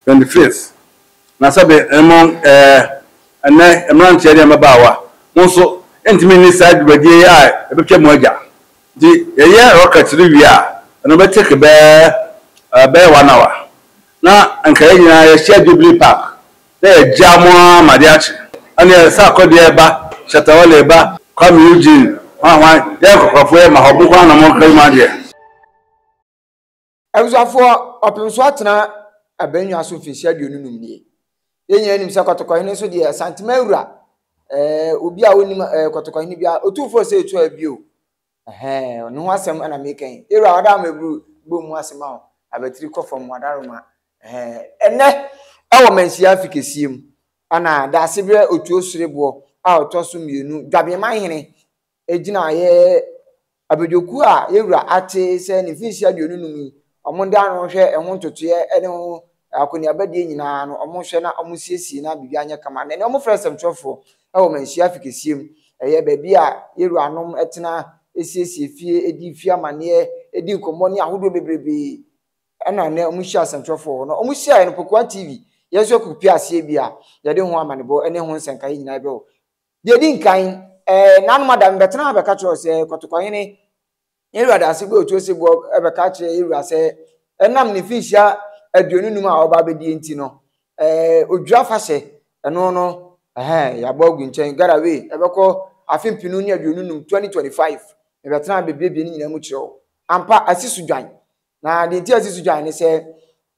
Twenty fifth na sɛbe mo eh, ɛnɛ mmeranteɛ ne mmabaawa mo nso ntumi nni saa dwumadie yi a ɛbɛtwa mu agya nti yɛyɛ rocket no wie a ɛno bɛ take bɛɛ eh, bɛyɛ one hour na nka yɛn nyinaa yɛhyia Jubilee Park na yɛgyaa mo ara ma adeɛ akye ɛneɛ Sarko deɛ ba, Shatta Wale ba, Kwame Eugene hwan hwan yɛyɛ nkɔkorɔfoɔ yɛ ma hɔ mo nko ara na mo nka yi mu adeɛ. Abusuafoɔ, ɔpem so atena abannwa so mfirihyia aduonu num nie. Yɛn nyinaa nim sɛ kɔtɔkɔhene nso deɛ santima awura. Ɛɛ obi a ɔnim ɛɛ kɔtɔkɔhene bia otumfoɔ sɛ etu abio. Ɛhɛn ne ho asɛm ɛna meka yi. Ewura wada ama eburu bɔ mu asɛm ahɔ. Abatiri kɔ fam wada roma. Ɛhɛn ɛnɛ ɛwɔ manhyia afi kɛseɛ mu. Ɛna daasebrɛ otuo sereboɔ a ɔtɔ so mmienu dwabeɛma hene gyinaeɛ abadwakuo a yɛwura ate sɛ ne mfinhyia aduonu num yi, wɔn de ano hwɛ ɛho ntotoeɛ ne ho akɔneabadie nyinaa no, wɔhwɛ na wɔsiesie na biribiara nyɛ kama. Na ɛnɛ wɔfrɛ nsɛmtwerɛfoɔ wɔ manhyia afi kɛseɛ mu, ɛyɛ baabi a yɛwuranom tena siesie fie, di fie amanneɛ, di nkɔmmɔ ne ahodoɔ bebrebe. Ɛna nnɛ wɔhyia nsɛmtwerɛfoɔ wɔ hɔ. Na wɔhyiaeɛ no, Pokuaa TV, yɛn nso yɛkɔ pue aseɛ bi a, yɛde ho amanebɔ ne ho nsɛnkaeɛ nyinaa brɛ wo. Deɛ ɛdi nkan, eh, nanom ada mebɛtena ha bɛka kyerɛ sɛ, Kɔtɔkɔhene, yɛn wura daase bɔ otuo se boɔ bɛka kyerɛ yɛn wura sɛ, ɛnam ne finhyia aduonu num a ɔba abɛdie nti no, eh, odwira fahyɛ, ɛno no, ɛhɛ, yɛabɔ agu nkyɛn, Garawee, ɛbɛkɔ afe mpenu ne aduonu num, 2025, mebɛtena ha bɛbiebie ne nyinaa mu kyerɛ wo. Ampa, asi so dwan. Na deɛ nti a ɛsi so dwan ne sɛ,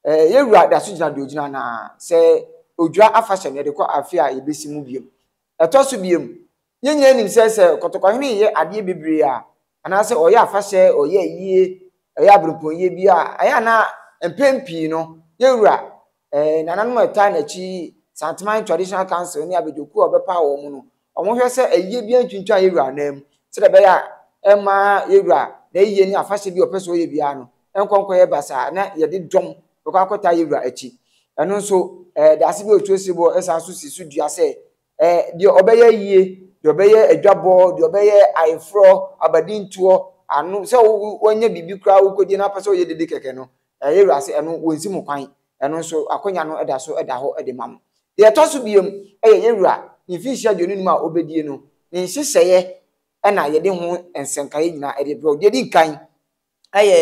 eh, yɛn wura da so gyina deɛ ogyina na sɛ odwira afahyɛ no yɛde kɔ afe a yɛbɛsi mu biom. Ɛtɔ so biom, yɛn nyinaa nim sɛ sɛ kɔtɔkɔhene reyɛ adeɛ bebree a, anaasɛ ɔyɛ afahyɛ, ɔyɛ ayie, ɔyɛ aberempɔnyie bi a, ɛyɛ a na mpɛn pii no yɛn wura Ɛɛ, nananom a ɛtaa n'akyi yi, Santeman Traditional Council ne abadwakuo a wɔbɛpaw wɔn no, wɔhwɛ sɛ ayiyɛ biara ntwintwan yɛn wura nan mu, sɛdeɛ ɛbɛyɛ a ɛmma yɛn wura n'ayiyɛ ne afahyɛ bi a ɔpɛ sɛ ɔyɛ biara no nkɔ nkɔyɛ basaa na yɛde dɔm bɛkɔ akɔtaa yɛn wura akyi. Ɛno nso, ɛɛ, Daase bi a Otuo Sebɔ san nso si so dua sɛ Eh, deɛ ɔbɛyɛ ayie, deɛ ɔbɛyɛ adwabɔ, deɛ ɔbɛyɛ ayeforɔ, abadintoɔ, ano, sɛ wo wanya biribi koraa wokɔgye na apɛ sɛ ɔyɛ dede kɛkɛ no, eh, yɛ wura sɛ ɛno wɔnsi mo kwan, ɛno nso akwanya no da so da hɔ de ma mo. Deɛ ɛtɔ so biom, ɛyɛ yɛ wura ne mfinhyia aduonu num a ɔbɛdie no ne nhyehyɛeɛ na yɛde ho nsɛnkaeɛ nyinaa de brɛ wo. Deɛ ɛdi nkan, Ɛyɛ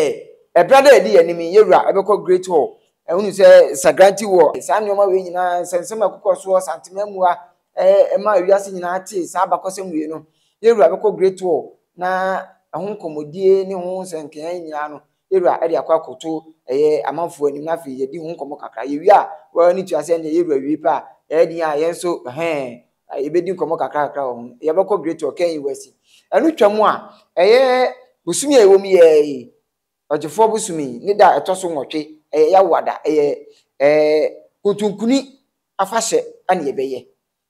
ɛberɛ a na ɛdi yɛn anim yi, yɛn wura ɛbɛkɔ Great Hall, ɛhunu sɛ Sagranti wɔ saa nneɛma wei nyinaa, nsɛnsɛm a ɛkokɔ soɔ, Santemaa mua, ɛma wiase nyinaa te saa abakɔsɛm wei no. Yɛn wura bɛkɔ Great Hall na ɛho nkɔmmɔdie ne ho nsɛnkeaa nyinaa no, yɛn wura ɛde akɔ akɔto ɛyɛ amanfoɔ anim na afei yɛdi ho nkɔmmɔ kakra. Yɛwie a, wo ara no tua sɛ ɛnneɛ yɛn wura wie pɛ a, ɛyɛ den a yɛn nso, ɛhɛn, a yɛbɛdi nkɔmmɔ kakrakakra wɔ ho no, yɛbɛkɔ Great Ɔkan yi wasi. Ɛno twam a, ɛyɛ bosome a ɛwɔ mu yɛ yi, ɔgyefoɔ bosome yi, ne da a ɛtɔ so nwɔtwe, ɛyɛ Yawada, ɛyɛ ɛɛ kontonkuni afahyɛ ɛna yɛbɛyɛ,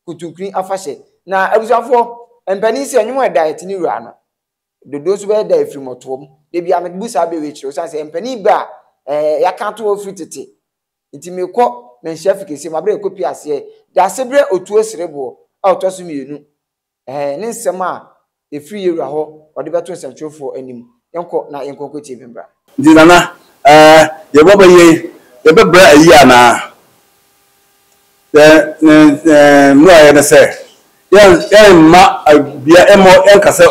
kontonkuni afahyɛ. Na abusuafoɔ, mpanin sɛ ɛnwom a ɛda a ɛte ne wura no, dodoɔ nso bɛyɛ da a ɛfiri mmɔtoɔ mu. Da biara mede bu saa bɛ wei kyerɛ, ɛsiane sɛ mpanin bɛ a ɛɛ yɛaka ato hɔ firi tete, Enti merekɔ manhyia fi kɛseɛ mu aberɛ a ɛkɔ pie aseɛ. Dase berɛ otuo sereboɔ a ɔtɔ so mmienu ɛɛ ne nsɛm a ɛfiri yɛwura hɔ ɔde bɛto nsɛmtwerɛfoɔ anim. Yɛnkɔ na yɛnkɔ nkɔtie bi mbra. Nti Nana, ɛɛ yɛbɔ bɛ yei, yɛbɛbrɛ ayi anaa? Mmuaeɛ ne sɛ, yɛremma bia mmɔ yɛnka sɛ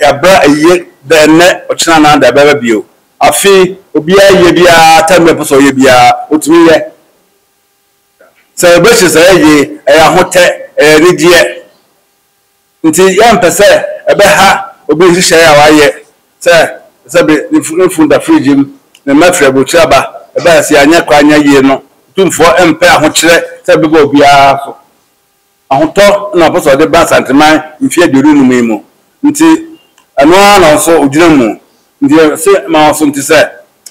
yɛabrɛ ayie dɛ nnɛ ɔkyena anaa da bɛba bio. Afe obiara ayie biara time bi a ɔpɛ sɛ ɔyɛ biara ɔtumi yɛ. Celebration sɛ ɛyɛ yie ɛyɛ ahotɛ ɛyɛ anigyeɛ. Ntsi yɛmmpɛ sɛ ɛbɛha obi nhyehyɛɛ a ɔayɛ sɛ ɔsɛ dɛ ne fun no fun da fridge mu na mma fir aburokyir aba. Ebɛn ase a annyɛ kor annyɛ yie no, Otumfoɔ mmpɛ ahokyerɛ sɛ ɛbɛba obiara so. Ahotɔ na ɔpɛ sɛ ɔdze ba Asantseman mfe eduonu enum yi mu, ntsi ɛno ara na ɔso ogyina mu. Nti yɛse ma wɔsonte sɛ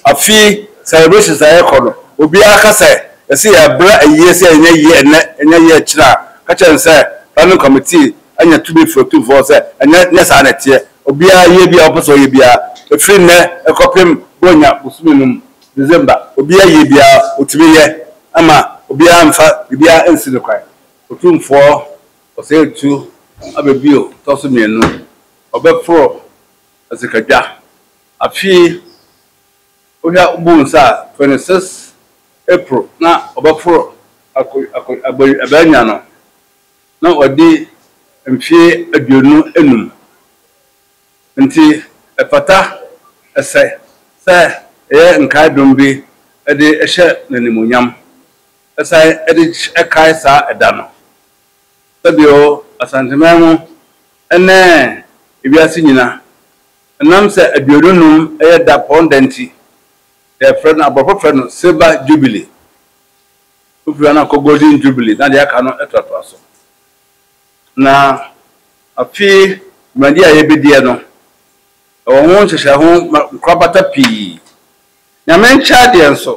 afe yi celebrations a yɛkɔ no obiara ka sɛ yɛse yɛbrɛ ayie sɛ ɛnyɛ yie ɛnnɛ ɛnyɛ yie akyire a ka kyerɛ no sɛ planning committee anya tumi firi otumfoɔ sɛ ɛnyɛ nyɛ saa na ɛteɛ obiara yie biara ɔpɛ sɛ ɔyɛ biara ɛfiri nnɛ ɛkɔpem bɔnya bosome no mu December obiara yie biara ɔtumi yɛ ɛma obiara mfa biribiara ɛnsi no kwan. Otumfoɔ ɔsɛetu aba bio tɔ so mmienu ɔbɛporo Asikadwa. Afei wohwɛ a wobu nsa a, twenty six April na wɔbɛforo Ako Ako Abo Abanya no, na wadi mfeɛ aduonu anum. Nti ɛfata, ɛsɛ, sɛ yɛyɛ nkae dom bi de hyɛ no animuonyam, san de kae saa ɛda no. Sɛdeɛ ɔ Asanteman ho ne ewiase nyina, ɛnam sɛ aduonu num yɛ da pɔn da nti, yɛfrɛ no, aborɔfo frɛ no Silver Jubilee. Wofiri ha na kɔ Golden Jubilee na deɛ aka no toatoa so. Na afe dwumadie a yɛbɛdiɛ no, ɛwɔ ho nhyehyɛe ho nkorabata pii Nyame nkyɛɛ deɛ nso,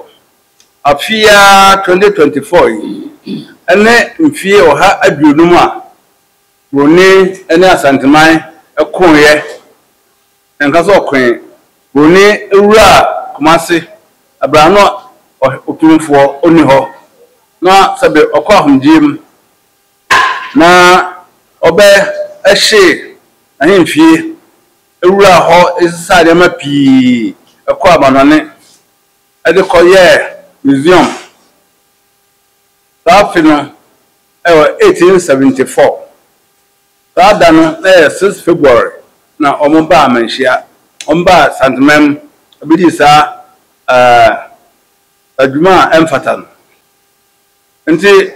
afe yi ara 2024 yi ne mfeɛ ɔha aduonum a Broni ne Asanteman koeɛ, yɛnka sɛ ɔkoe, Broni wuraa Kumasi berɛ a na Otumfoɔ ɔnni hɔ, na sɛbe ɔkɔ ahomgyeɛ mu na ɔbɛhye n'ahemfie. wuraa hɔ sesaa nneɛma pii kɔɔ amannɔne de kɔyɛɛ museum. Saa afe no yɛ 1874. Saa da no, na ɛyɛ six February, na wɔbaa Manhyia. Wɔbaa St. Mem bedii saa dwuma a ɛmfata no. Enti.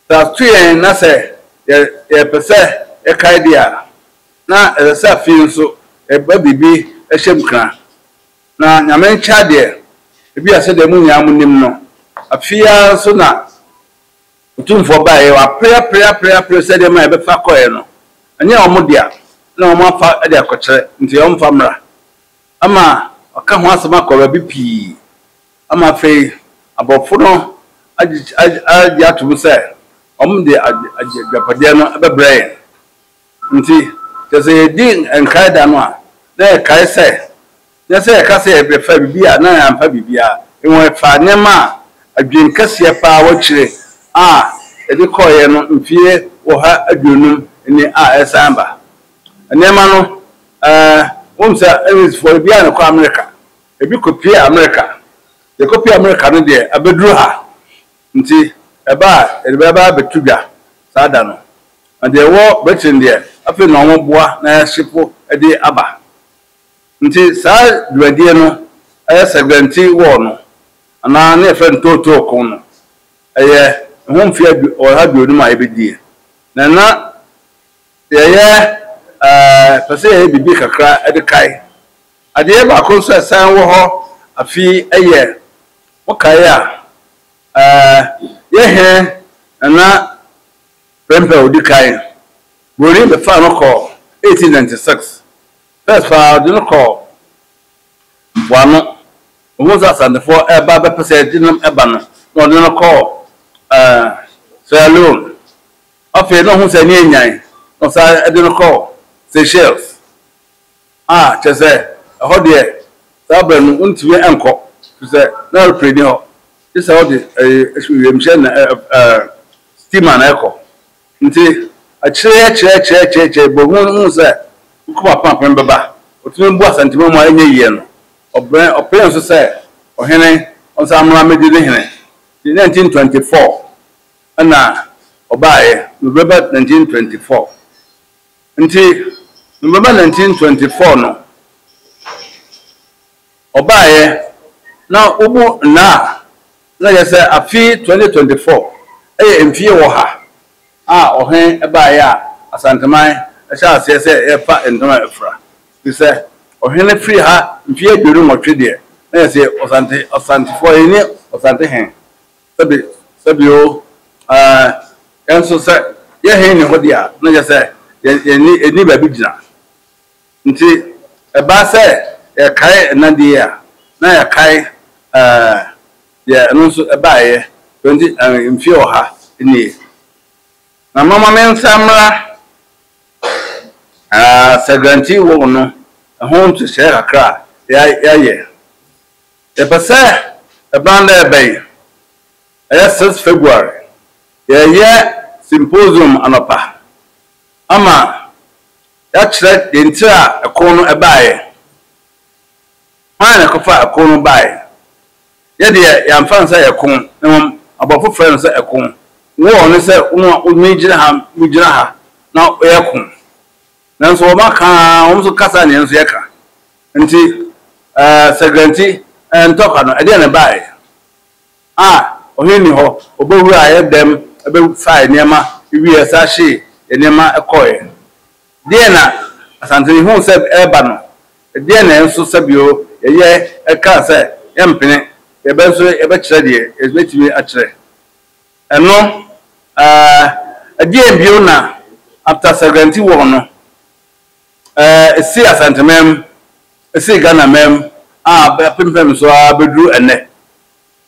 Sɛ ato yɛn na sɛ yɛpɛ sɛ yɛkae de a, na ɛsɛ sɛ afei nso yɛba biribi hyɛ nkuran. Na Nyame nkyɛn adeɛ, ebia sɛdeɛ mo nyinaa monim no, afe yi ara nso na Otumfoɔ baeɛ, wɔapereapereapereapere sɛ nneɛma a yɛbɛfa kɔeɛ no, ɛnyɛ wɔn dea na wɔafa de akɔkyerɛ, nti wɔmfa mmra. Ama wɔaka ho asɛm akɔ baabi pii. ama afei aborɔfo no agye atom sɛ wɔde agyapadeɛ no bɛbrɛ yɛn. Nti, kyerɛ sɛ yɛdi nkae da no a, na yɛkae sɛ, nyɛ sɛ yɛka sɛ yɛbɛfa biribi a na yɛamfa biribiara, mmom yɛfaa nneɛma a adwene kɛseɛ paa wɔ akyire a yɛde kɔeɛ no mfeɛ ɔha aduonum ni a ɛresan ba. Nneɛma no, ɛɛ, wonim sɛ Englisfoɔ, ebiara na ɛkɔ Amerika. Ebi kɔpue Amerika. Deɛ ɛkɔpue Amerika no deɛ, abɛduru ha. Nti, ɛba a, yɛde bɛ aba abɛto dwa saa da no. Na deɛ ɛwɔ Britain deɛ, afei na wɔboa na yɛahyepo de aba. Nti, saa dwumadie no, ɛyɛ Sɛgɛnti Wɔɔ no, anaa na yɛfrɛ no Tootoo Ko no, ɛyɛ ɛho mfeɛ adu ɔha aduonum a yɛbɛdie. Na na yɛyɛ, ɛɛ, pɛ sɛ yɛyɛ biribi kakra de kae. Adeɛ baako nso a ɛsan wɔ hɔ afi yɛ, mokae a, yɛ hɛ Nana Prempeh a ɔdi kan, Buroni bɛfaa no kɔɔ 1896. First paa ɔde no kɔɔ mpoano, ɔhuu sɛ Asantefoɔ reba bɛpɛ sɛ ɛgye no ba no, na ɔde no kɔɔ Sierra Leone. Afei na ɔhuu sɛ ani anyan, na ɔsan de no kɔɔ Seychelles. a, kyerɛ sɛ, ɛhɔ deɛ, saa berɛ no, wontumi nkɔ, ɛfiri sɛ, na aeroplane nni hɔ, gye sɛ wode ɛyi, wiemhyɛn na ɛ, ɛ, steamer na ɛkɔ. Nti, akyire yi akyire akyire akyire akyire, bɛhunu no hunu sɛ Nkrumah Penapen bɛba, ɔtumi bu Asantehene mu a ɛnyɛ yie no, ɔbrɛ, ɔpene nso sɛ, Ɔhene, ɔnsan mmra mmɛdi ne hene. Nti, 1924 ɛna ɔbaeɛ, November 1924. Ntsi November nineteen twenty four no ɔbaeɛ na wobu nna a na yɛ sɛ afe twenty twenty four yɛ mfie wɔha a ɔhen baeɛ a Asanteman hyɛɛ aseɛ sɛ yɛfa ntam a afura. Ntsi sɛ ɔhen firi ha mfie aduonu nwɔtwe deɛ na yɛ se Ɔsante Ɔsantefoɔ yɛnni Ɔsante hen Sɛbe, sɛbe o, ah, yɛn nso sɛ yɛn he nni hɔ de a, na kyerɛ sɛ yɛn, yɛn nni, yɛnni baabi gyina. Nti ɛbaa sɛ yɛkae nna de yi a, na yɛkae, ah, deɛ ɛno nso ɛbaeɛ twenty, ah, mfie ɔha nie. Na momma me nsa mmra, ah, Sagranti Wall no ho nhyehyɛeɛ kakra a yɛayɛ. Yɛpɛ sɛ ɛbɛn dɛ ɛbɛn, ɛyɛ six February, yɛreyɛ symposium anɔpa ama yɛakyerɛ deɛ nti a ɛko no baeɛ, hwan na ɛkɔfaa ɛko no baeɛ. Yɛ deɛ yɛamfa no sɛ ɛko, na mmom aborɔfo frɛɛ no sɛ ɛko. War ne sɛ wo a wotumi gyina ha, wogyina ha na yɛko. Nanso wɔaka ara, wɔn nso kasa na yɛn nso yɛka. Enti, sɛ guarantee ntɔkwa no, ɛdeɛn na ɛbaeɛ? A. Ɔhene nni hɔ, ɔbɛwuraa yɛn dɛm bɛfaa yɛn nneɛma wieeɛ ɛsan hyee yɛn nneɛma kɔeɛ. Deɛn na Asantehene huu sɛ ɛreba no? Deɛn na yɛn nso sɛbio yɛyɛ ɛkaa sɛ yɛmpene, yɛbɛ nso yɛbɛkyerɛ deɛ yɛbɛtumi akyerɛ? Ɛno a, ɛdeɛn bio na after sɛ guarantee wɔɔ no, Ɛsii Asanteman mu, ɛsii Ghanaman mu a apempem so ara bɛduru ɛnnɛ.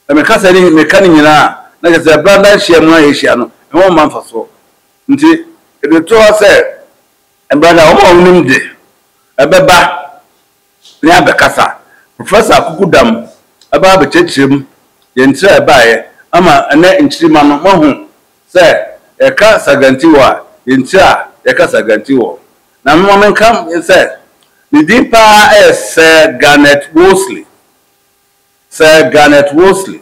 Sɛ meka saa ne meka ne nyinaa a, na kyerɛ sɛ branda nhyiamu a yɛhyia no, ɛho mma mfasoɔ. Nti ɛde to hɔ sɛ branda a wɔn a wɔnim de, ɛbɛba. ne abɛkasa. Professor Akukudam aba abɛkyerɛkyerɛ mu yɛ nkyerɛ a ɛbaeɛ ama ɛnnɛ nkyirimma no moahu sɛ yɛka Sagantiwɔ a yɛ nkyerɛ a yɛka Sagantiwɔ. Na moma menka sɛ ne din pa ara yɛ Sir Garnet Wolseley, Sir Garnet Wolseley.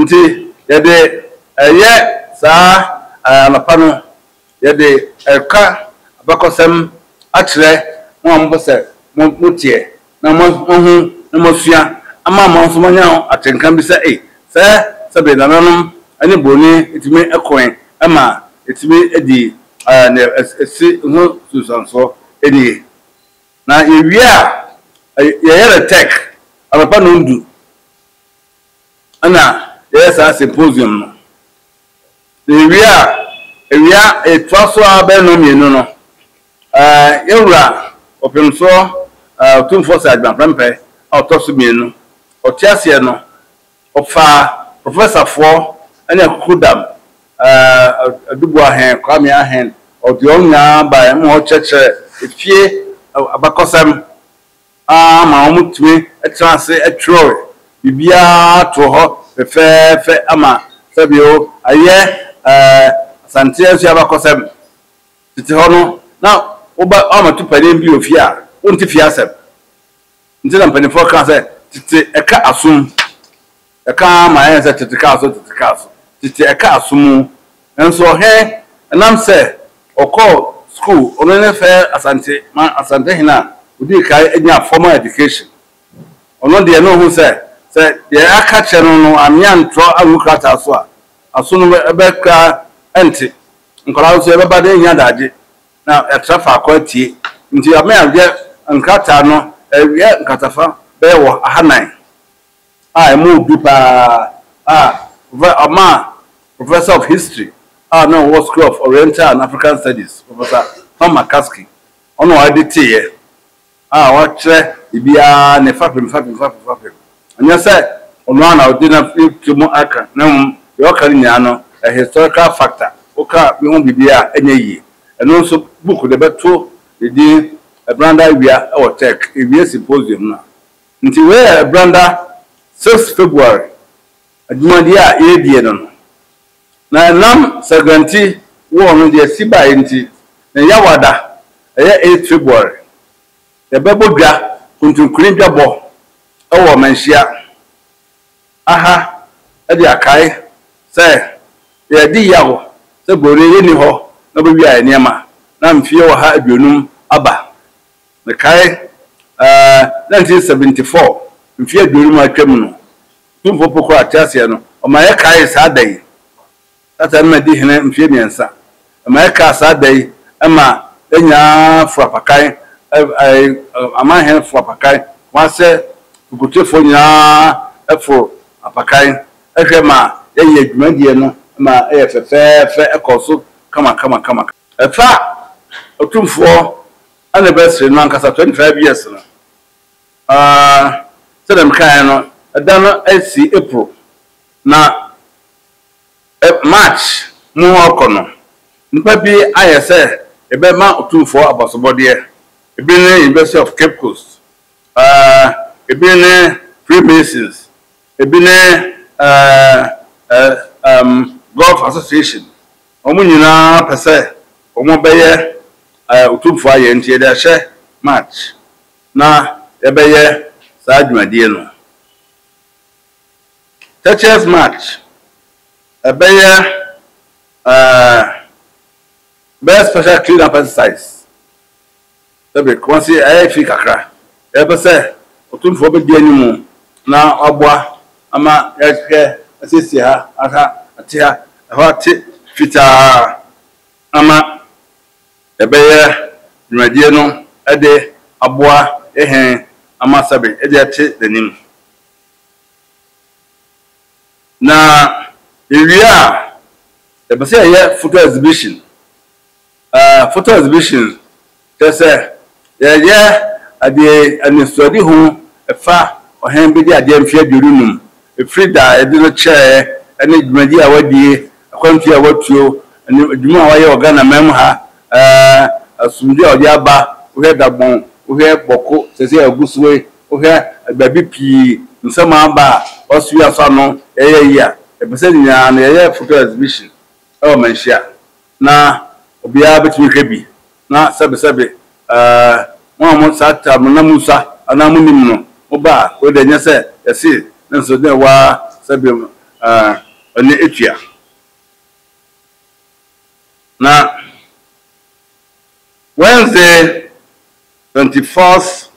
Nti yɛde yɛ saa anɔpa no, yɛde reka abakɔsɛm akyerɛ mo a mopɛ sɛ moteɛ na moahu na moasua ama mo nso moanya atenka bi sɛ, ei, sɛ sɛbe nananom ne buroni tumi koe ma ɛtumi dii nea ɛsi ho nsunsuansoɔ nie. Na yɛwie a, yɛyɛ no tech anɔpa nnɔndu. na yɛyɛ saa symposium no. Sɛ yɛwie a, awia ɛtoa so ara bɛyɛ nnɔnmienu no, yɛn wura Ɔpemsoɔ Otumfoɔ Sir Adwuma Prempeh a ɔtɔ so mmienu, ɔte aseɛ no, ɔfaa professorfoɔ ne Akukudam Aduboa Hen Kwame Ahen, ɔde wɔn nyinaa baeɛ ma wɔkyerɛkyerɛɛ efie abakɔsɛm ara ma wɔtumi tra ase twerɛe. Biribiara too hɔ fɛfɛɛfɛ ama sɛdeɛ ayɛ Asante Asua abakɔsɛm. Tete hɔ no, na woba woammɛto panin bi wɔ fie a, wonte fie asɛm. Nti na mpanimfoɔ kaa sɛ, tete ɛka asom. Ɛka ara ma ɛyɛ sɛ tete kaa so, tete kaa so, tete ɛkaa so mu. Nanso ɔhene, ɛnam sɛ ɔkɔɔ sukuu, ɔno ne fɛ Asante ma Asante hene a ɔdii kan nyaa formal education. Ɔno deɛ na ɔhu sɛ, sɛ deɛ aka akyerɛ no no anwene antorɔ angu krataa so a, aso no bɛ koraa ɛnte. Nkwadaa no nso yɛbɛba na yɛanya adagye na yɛatra faako atie. Nti ama yɛayɛ nkrataa no, yɛyɛ nkratafa bɛyɛ wɔ aha nan. a emu du paa a ɔmaa Professor of History a na ɔwɔ School of Oriental and African Studies, Professor Tom McCaskey, ɔno ara de teeɛ a ɔkyerɛ ebiara ne fapem fapem fapem fapem. Ɛnyɛ sɛ ɔno ara na ɔde no afi tiri mu aka, na mmom deɛ ɔka no nyinaa no, ɛyɛ historical facta. Woka bi ho biribi a, ɛnyɛ yie. Ɛno nso, book de bɛto ne din Ɛberanda Awia wɔ Turk, Ewie Symposium no a, Nti wei yɛ branda sixth February adwumadie a yɛredie no no. Na ɛnam Saguanti war no deɛ ɛsi baeɛ nti, ne Yawada ɛyɛ eighth February. Yɛbɛbɔ dwa, Kuntunkuni dwabɔ wɔ Manhyia aha de akae sɛ yɛredi yaw sɛ Borɔni yɛnni hɔ na wɔbɛwia yɛn nneɛma na mfeɛ ɔha aduonum aba. Mekae, ɛɛ, nineteen seventy four, mfe aduonu mu a atwam no, Tumfoɔ Pokorɔ Ateaseɛ no, ɔma yɛkaee saa da yi. Satan no ma dii hene mfe mmiɛnsa. Ɛma yɛkaa saa da yi, ɛma yɛnyaa furapakan, ɛɛ, amanhene furapakan, Kumase Fikutefoɔ nyinaa foro apakan hwɛ ma yɛyɛɛ dwumadie no ma ɛyɛ fɛfɛɛfɛ, ɛkɔɔ so kama kama kama. Ɛfa Otumfoɔ anniversary no ankasa, 25 years no, sɛdeɛ mekaeɛ no, ɛda no si April, na March mu rekɔ no, nnipa bi ayɛ sɛ yɛbɛma Otumfoɔ abasobɔdeɛ. Ebi ne University of Cape Coast, ebi ne Freemasons, ebi ne Golf Association, Wɔn nyinaa pɛ sɛ wɔbɛyɛ Otumfoɔ ayɛ nti yɛde ahyɛ March na yɛbɛyɛ saa dwumadie no. Teacher's March, ɛbɛyɛ ɛbɛyɛ special clean up exercise Dabi, Kumasi ayɛ fi kakra. Yɛbɛpɛ sɛ Otumfoɔ bɛdi anim na waboa ama yɛahwɛ asiesie ha, aha ate ha, ɛhɔ ate fitaa ama yɛbɛyɛ dwumadie no de aboa yɛ hɛn ama sɛbe yɛde ate n'anim. Na yɛwie a, yɛpɛ sɛ yɛyɛ photo exhibition. Ɛɛ, photo exhibition kyerɛ sɛ yɛreyɛ ade anisoadehu ɛfa Ɔhene Bedi Adeɛ mfe aduonu num ɛfiri da a yɛde no kyɛeɛ ɛne dwumadie a wadie, akwantuo a watuo, ne adwuma a wayɛ wɔ Ghana man mu ha. Ɛɛ, asomdwoeɛ a ɔde aba, wohwɛ Dagbon, wohwɛ Bɔko seesei a ɛgu soɔ yi, wohwɛ baabi pii nsɛm a aba a wasowie asɔ ano, yɛyɛ yie a, yɛpɛ sɛ nyinaa no yɛyɛ photo exhibition ɛwɔ Manhyia. na obiara betumi ahwɛ bi na sɛbesɛbe mo a mo saa ta mo na musa anaa munim no mo ba a wei deɛ nyɛ sɛ yɛse nanso dɛn waa sɛbe ɛne etua na Wednesday twenty fourth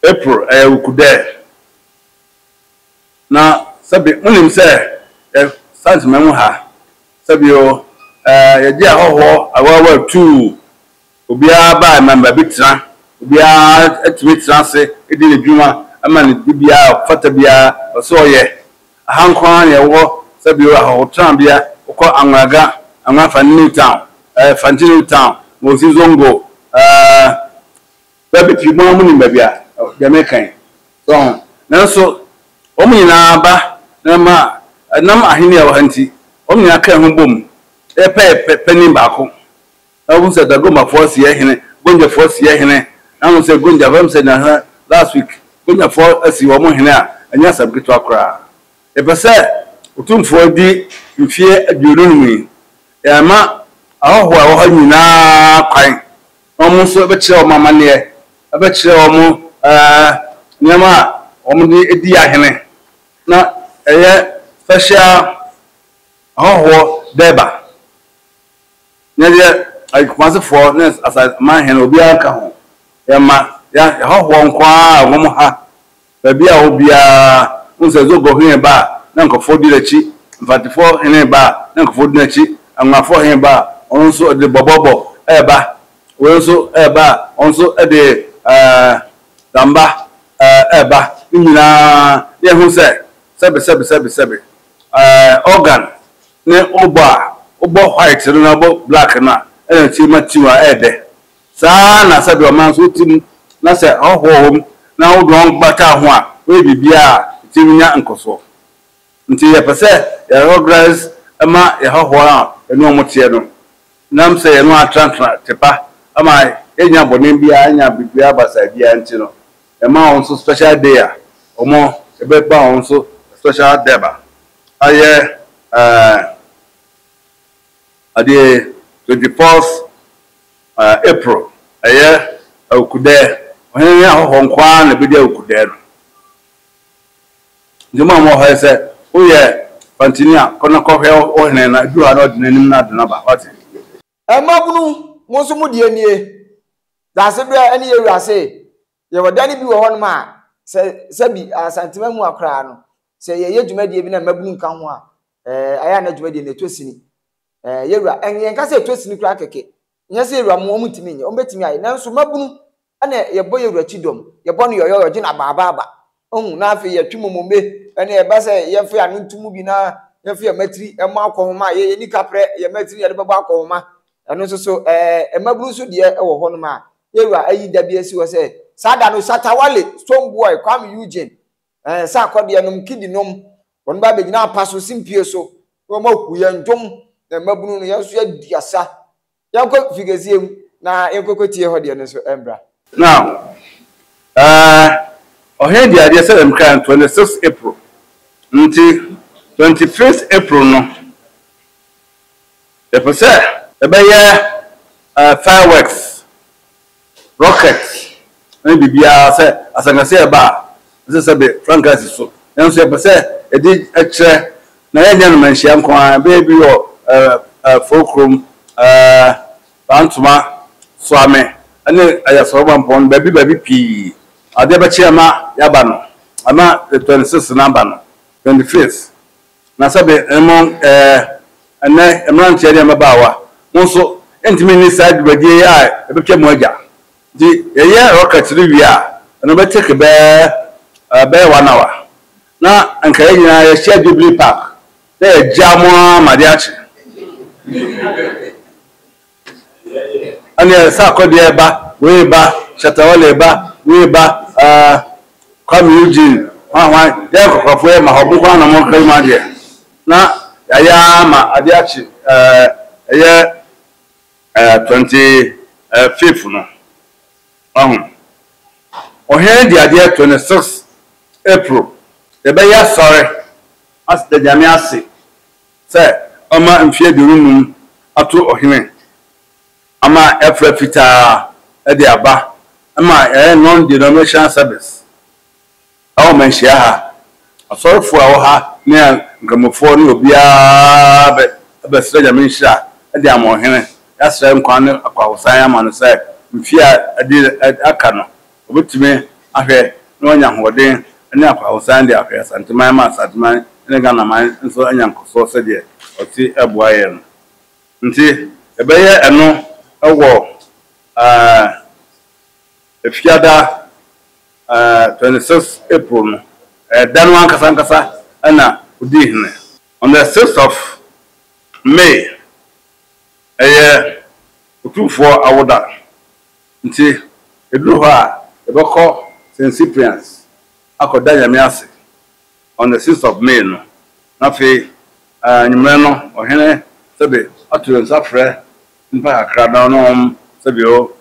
April ɛyɛ Wukudɛ. Na sɛbe monim sɛ yɛ Sansema mu ha, sɛbio eh, yɛgye ahɔhoɔ awaawa tuu, obiara baɛ ma baabi tena, obiara tumi tena ase di ne dwuma ma ne dibea a ɔfata biara wɔ sɛ ɔyɛ. Aha nko ara na yɛwɔ sɛbio ahɔhotenabea, wokɔ Anguaga, Anguafa New Town, eh, Fanti New Town, Mosi Zongo, eh, Bɛ pipii mo ara munim baabi a deɛ mereka yi. So ho? Nanso wɔn nyinaa ba na ma ɛnam Ahenni a ɛwɔ ha nti, wɔn nyinaa kaa ho boom yɛ pɛyɛ panin baako. Na wohu sɛ Dagomafoɔ asi yɛn hene, Gonjafoɔ asi yɛn hene. Na wohu sɛ Gonja, ɛbɛyɛ sɛ nnansa, last week, Gonjafoɔ asi wɔn hene a, ɛnyɛ asɛm ketewa koraa. Yɛpɛ sɛ Otumfoɔ di mfeɛ aduonu nnum yi. Yɛama ahɔhoɔ a ɛwɔ hɔ nyinaa kwan. Wɔn nso bɛkyerɛ wɔn amanneɛ, wɔbɛkyerɛ wɔn nneɛma a wɔde di ahene, na ɛyɛ fɛhyɛ ara, ahɔhoɔ dɛɛba, na deɛ Kumasefoɔ ne aman he no, obiara nka ho, yɛma yɛahɔhoɔ nko ara wɔ mo ha. Baabi a ɔwɔ biara, wohu sɛ Zobor hene reba a, na nkurɔfoɔ di n'akyi, Mfatifoɔ hene reba a, na nkurɔfoɔ di n'akyi, Angonafoɔ hene reba a, ɔno nso ɔde bɔbɔbɔ reba, wei nso reba a, ɔno nso de damba reba. Ne nyinaa, na yɛhu sɛ, sɛbe, sɛbe, sɛbe, sɛbe. Organ ne wobɔ a, wobɔ white no na wobɔ black no a, ɛna nso yɛma tune a ɛyɛ dɛ. Saa ara na sɛdeɛ ɔman nso te mu na sɛ ahɔhoɔ wɔ mu na wode wɔn ba ka ho a, woyɛ biribiara a ɛtumi nya nkɔsoɔ. Nti yɛpɛ sɛ yɛ recognize ma yɛ ahɔhoɔ a yɛne wɔn teɛ no, ɛnam sɛ yɛne wɔn atenatena te pa ama yɛnnya bɔne biara, yɛnnya biribiara basaa biara nti no, yɛma wɔn nso special day a wɔbɛba wɔn nso special Durbar ayɛ ɛɛɛ adeɛ 24th. April, Ɛyɛ awukudɛ, ɔhene ne ahɔhoɔ nko ara na ɛbɛdi awukudɛ no. Nti mo a mowɔ ha yi sɛ woyɛ pantini a, kɔ na kɔhwɛ wo hene na ɛduru ha na ɔde n'anim no ade no aba. Woate? Mmabunu, mo nso mo deɛ nie. Daasebrɛ ne yɛn wura se, Yɛwɔ dan bi wɔ hɔnom a sɛ sɛ bi Asantema mu a koraa no, sɛ yɛyɛ dwumadie bi na mmabunu nka ho a, ɛɛ ayɛ a na dwumadie no ɛtɔ sini. Ɛɛ yɛwura, ɛn yɛnka sɛ ɛtɔ sini koraa kɛkɛ. Nyɛ sɛ yɛwura mo, wɔn ntumi nyɛ, wɔn bɛtumi ayɛ. Nanso mmabunu ɛna yɛbɔ yɛwura kyidɔm, yɛbɔ no yɔyɔyɔ, gye no abaabaaba. Ohu, na afei yɛtwe momombe, ɛne ɛba sɛ yɛmfa yɛn ano nto mu bi na yɛmfa yɛn mmatiri mmɔ akɔnhoma a yɛyɛ nika prɛ, yɛn mmatiri yɛde bɛbɔ akɔnhoma. Ɛno nso so, ɛɛ, mmabunu nso deɛ wɔ hɔnom a yɛwura ayi da bi asi hɔ sɛ saa da no Shatta Wale, Stonebwoy, Kwame Eugene, ɛɛ, nsa akɔdeɛ nom, kidi nom, wɔn ba bɛgyina apa so, simpie so, na wɔn ahu yɛn dwom, na mmabunu no yɛn nso yɛadi asa. Yɛnkɔ figasiɛ mu na yɛnkɔkɔtie hɔ deɛ no nso mbra. Now, uh, ɔhene de adeɛ sɛ dɛm kra no 26 April, nti 25th April no, yɛpɛ sɛ yɛbɛyɛ uh, fireworks. Rocket ne biribiara sɛ asankasi a ɛba a, ɛsɛ sɛ ɛde frankaa si so. Nanso yɛpɛ sɛ yɛde kyerɛ, na yɛnyɛ no manhyia nko ara, ɛbɛyɛ bi wɔ Fo Krom, Bantoma, Soame ne Ayasawomampɔn no, baabi baabi pii. Adeɛ bɛkye ama yɛaba no, ama the twenty sixth no aba no, twenty fifth. Na sɛbe mo, ɛɛ, ɛnnɛ mmeranteɛ ne mmabaawa, mo nso ntumi nni saa dwumadie yi a ɛbɛtwa mu agya. Nti yɛyɛ rocket no wie a, ɛno bɛ take bɛɛ, ɛɛ, bɛyɛ one hour. Na anka yɛn nyinaa yɛhyia Jubilee Park na yɛagya mo ara ma adeɛ akye. Ɛneɛ nsa akɔdeɛ ba, wei ba, Shatta Wale ba, wei ba, uh, Kwame Eugene, hwan hwan, yɛyɛ kɔkɔrɔfoɔ yɛ ma hɔ, mo nkoaa na mo kari mo adeɛ. Na yɛayɛ ara ma adeɛ akye, uh, ɛyɛ, uh, twenty, uh, fifth no, wahu. Ohene de adeɛ twenty six April, yɛbɛyɛ asɔre, as, da Nyame ase. sɛ ɔmma mfe aduonu nnum ato ɔhene ama ɛfrɛ fitaa de aba ma yɛayɛ non-denominational service ɛwɔ manhyia ha asɔrefoɔ a ɛwɔ ha ne nkramofoɔ ne obiara bɛsrɛ nyame nhyira de ama ɔhene yɛasrɛ nkwa ne akwahosan ama no sɛ mfe a ɛde aka no Wɔbɛtumi ahwɛ na wɔanya ahoɔden ne akwahosan de ahwɛ Asanteman ma Asanteman ne Ghanaman nso anya nkɔsoɔ sɛdeɛ ɔte boa yɛn no. Nti yɛbɛyɛ ɛno wɔ Fiada 26 April no, ɛyɛ da no ankasa ankasa na ɔdii hene. On the 6th of May, ɛyɛ Otumfoɔ awoda. Nti, ɛduru hɔ a, yɛbɛkɔ St. Cyprian's akɔda Nyame ase on the sixth of May no, na afei anwummerɛ no Ɔhene sɛbe ato yɛn nsa frɛ nnipa kakra na ɔne wɔn sɛbe o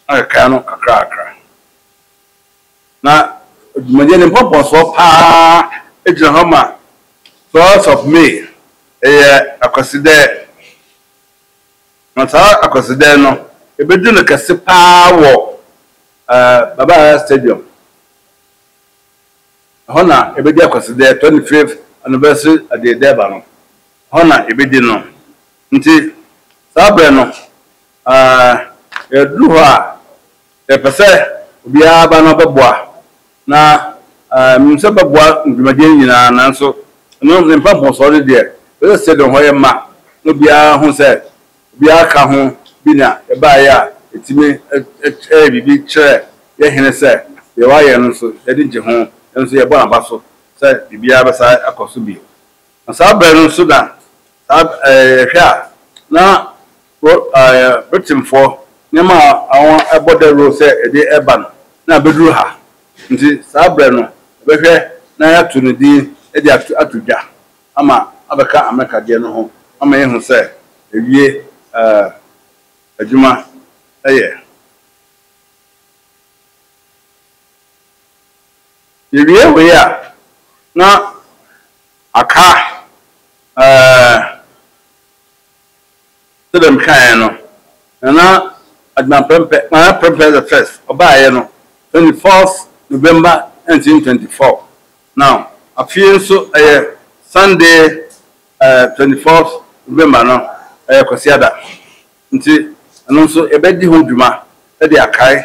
akeka no kakra kakra. Na dwumadie no mpɔmpɔnsoɔ pa ara gyina hɔ ma twelfth of May, ɛyɛ Akwasidɛ. Na saa akwasidɛn no, yɛbɛdu no kɛse pa ara wɔ Baba Yara Stadium. Ɛhɔ na yɛbɛdi akwasidɛn, 25th Anniversary Adeɛ Durbar no, ɛhɔ na yɛbɛdi no. Nti saa berɛ no, yɛduru hɔ a, yɛpɛ sɛ obiara ba na ɔbɛboa. Na minim sɛ bɛboa me dwumadie no nyinaa nanso ɛno ne mpa mpɔnsɔɔ no deɛ ɛsɛ sɛ stadium hɔ yɛ ma na obiara hu sɛ obiara ka ho bi na yɛbaeɛ a ɛtumi yɛ biribi kyerɛ yɛ hene sɛ deɛ wayɛ no nso yɛani gye ho yɛn nso yɛbɔ n'aba so sɛ biribiara bɛsan akɔ so bio na saa berɛ no nso na saa yɛhwɛ a na Wɔ Britainfoɔ nneɛma a wɔbɔ dawuro sɛ ɛde reba no na abɛduru ha, nti saa berɛ no yɛbɛhwɛ na yɛato no din de ato dwa ama abɛka Amerika deɛ no ho ama yɛahu sɛ ɛwie adwuma yɛ. Yɛwie wei a na aka ɛɛ. Sɛ dɛm kae no, Nana Adjumah Prempeh, Nana Prempeh the First, ɔbaeɛ no twenty fourth November nineteen twenty four, na afei nso ɛyɛ Sunday eh twenty fourth November no ɛyɛ Kwasiada, nti ɛno nso yɛbɛdi ho dwuma de akae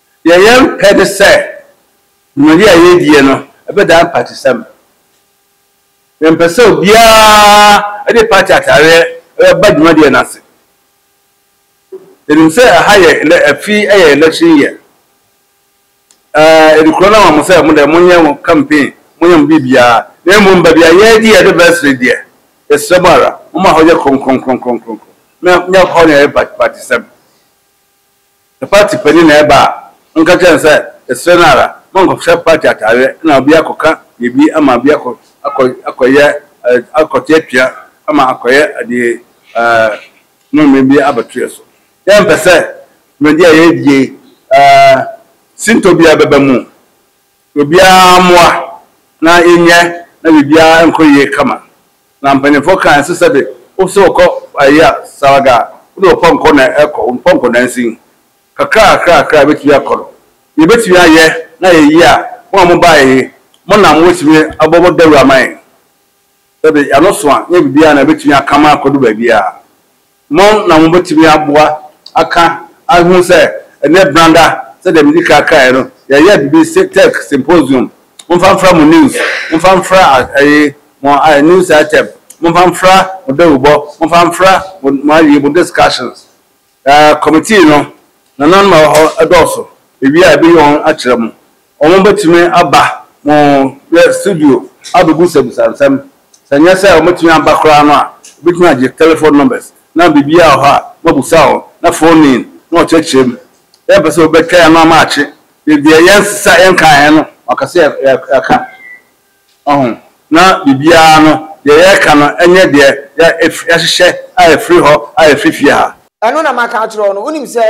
Deɛ yɛmpɛ ne sɛ dwumadi a yɛredie no bɛdan mpatisɛm. Yɛmpɛ sɛ obiara de pati ataareɛ ba dwumadie no ase. Yɛnim sɛ ɛha yɛ elɛ afi yɛ election year. Yɛde kuro no ama mo sɛ mo deɛ monyɛ mo campaign, monyɛ mo biribiara. Na mmom baabi a yɛredi yɛn anniversary deɛ, yɛsrɛ mo ara, momma hɔ nyɛ kronkron kronkron kronkron. Nyɛ hɔ na yɛyɛ mpatisɛm. Party panyin na ɛba a, ɔnka kyerɛ no sɛ, Yɛsrɛ no ara, ma ɔnkɔhyɛ party ataareɛ na obi akɔka biribi ama obi akɔ akɔ akɔyɛ akɔte atua ama akɔyɛ adeɛ mmemme bi abɛto yɛn so. Yɛmpɛ sɛ dwumadie a yɛredie sintɔ biara bɛba mu. Obiara mmoa na yɛnyɛ na biribiara nkɔ yie kama. Na mpanyinfoɔ kaa nso sɛbe wo sɛ wokɔ ayi a Salaga a wode wo pɔnkɔ na ɛkɔ, wo pɔnkɔ nansin. Kakra kakra kakra a bɛtumi akɔ no. Deɛ yɛbɛtumi ayɛ na ayɛ yie a mo a mo baeɛ yi mo na mo bɛtumi abɔ mo dawuro ama yɛn. Sɛbe y'ano soa nyɛ biribiara na ɛbɛtumi akama akɔdu baabiara. Mo na mobɛtumi aboa aka ahunu sɛ ɛnyɛ branda, sɛdeɛ medi kan kaeɛ no, yɛyɛ biribi se tech symposium, momfa mfra mo news, momfa mfra ɛyi, mo news item, momfa mfra mo dawubɔ, momfa mfra mo mo ayi, mo discussions. Ɛɛ committee no, nananom a ɛwɔ hɔ dɔɔso, ɛwie a ɛbɛyi wɔn akyerɛ mo. Wɔbɛtumi aba mo studio abɛbisabisa nsɛm. Sɛ ɛnyɛ sɛ wɔbɛtumi aba koraa no a, wobɛtumi agye telephone numbers na biribiara wɔ hɔ a moabisa wɔn na phone in na wɔkyerɛkyerɛ mu. Yɛmpɛ sɛ wobɛtwɛn ano ama akye. Deɛ yɛnsesa, yɛnkaeɛ no wɔka sɛ yɛka. Wahu? Na biribiara no, deɛ yɛka no nyɛ deɛ yɛahyehyɛ a ɛfiri hɔ a ɛfiri fie ha. Ɛno na maka akyerɛ wo no. Wonim sɛ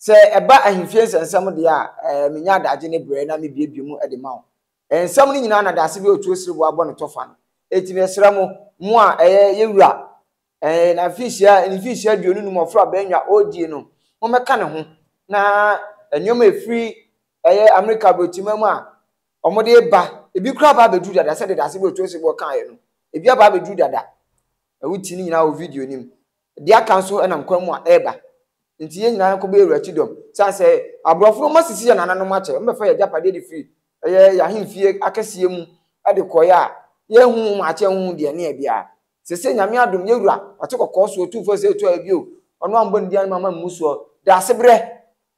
Sɛ ɛba ahemfie nsɛnsɛm deɛ a, ɛɛ, menya adagye ne berɛ na mebuebue mu de ma wo. Ɛɛ, nsɛm no nyinaa na daase bi a ɔtuo sere bo abɔ no tɔ fa no. Enti mesrɛ mo, mo a, ɛɛ, yɛ wura, ɛɛ, na mfinhyia, ne mfinhyia aduonu num ɔforo a bɛanwa ɔredie no, mommɛka ne ho, na nneɛma a ɛfiri, ɛɛ, Amerika aborɔkyimaa mu a wɔde reba, ebi koraa aba abɛduru dada, sɛdeɛ daase bi a ɔtuo sere boɔ kaeɛ no, ebi aba abɛduru dada. Wote ne nyinaa wɔ video no mu. Deɛ aka nso nam kwan mu a ɛreba. Nti yɛn nyinaa yɛnkɔbɔ Awurade ti dɔm. Sane sɛ aborɔfo no wɔasisi yɛn nananom akyɛ, wɔbɛfa yɛn agyapadeɛ de firi ɛyɛ yɛn ahemfie akɛseɛ mu de kɔeɛ a, yɛrenhu wɔn akyɛ, yɛrenhu deɛ ɛne yɛn biara. Seesei Nyame adom, yɛn Wura, wate kɔkɔɔ so, Otumfoɔ Yesaia tua yɛn bio, Ɔno a mommɔ ne din ano mamma mmu soɔ, Daasebrɛ!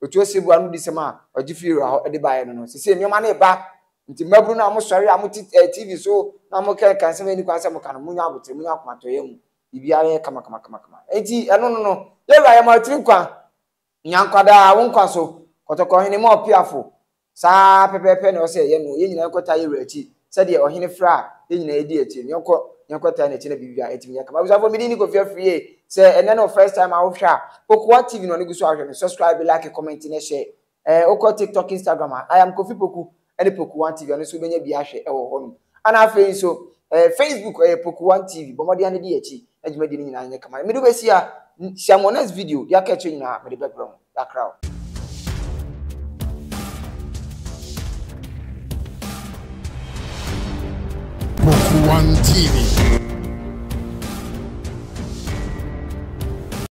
Ɔtua ɔsɛ bu anodisɛm a ɔgye firi Wura hɔ de baeɛ no no. Seesei nneɛma no reba, nti mmabunu no a mosɔre a mote TV so na mokenkan nsɛm a ɛnni kwan sɛ moka no, monyɛ aboterɛ, monyɛ akomatɔyam. Biribiara yɛ kamakamakama. Enti ɛno no no, yɛwura yɛma ɔtiri nkwa. Nya nkwa daa wo nkwa so. Kɔtɔkɔ hene ma ɔpeafo. Saa pɛpɛɛpɛ na ɛwɔ sɛ yɛyɛ no. Yɛn nyinaa yɛnkɔtaa yɛwura akyi. Sɛdeɛ ɔhene frɛ a, yɛn nyinaa yɛdi akyi. Nea ɔkɔ na yɛnkɔtaa n'akyi na biribiara atumi yɛ kama. Abusuafo, me din ne Kofi Afriyie. Sɛ ɛnnɛ ne wo first time a wohwɛ a, Kokoa TV na ɔno gu so a wohwɛ no. Subscribe, like, comment, na share. Ɛɛ wokɔ TikTok, Instagram a, I am Kofi Poku ne Poku One TV, ɛno nso wobɛnya bi ahwɛ wɔ hɔnom. Ɛna afei nso, ɛɛ Facebook, ɛyɛ Poku One TV. Bɔ mmɔden ara na di yɛn akyi na dwumadie no nyinaa nyɛ kama. Mede wobɛsi ha, hyia mo next video, deɛ aka akyire nyinaa mede bɛbrɛ mo. Yɛakra wo. Poku One TV.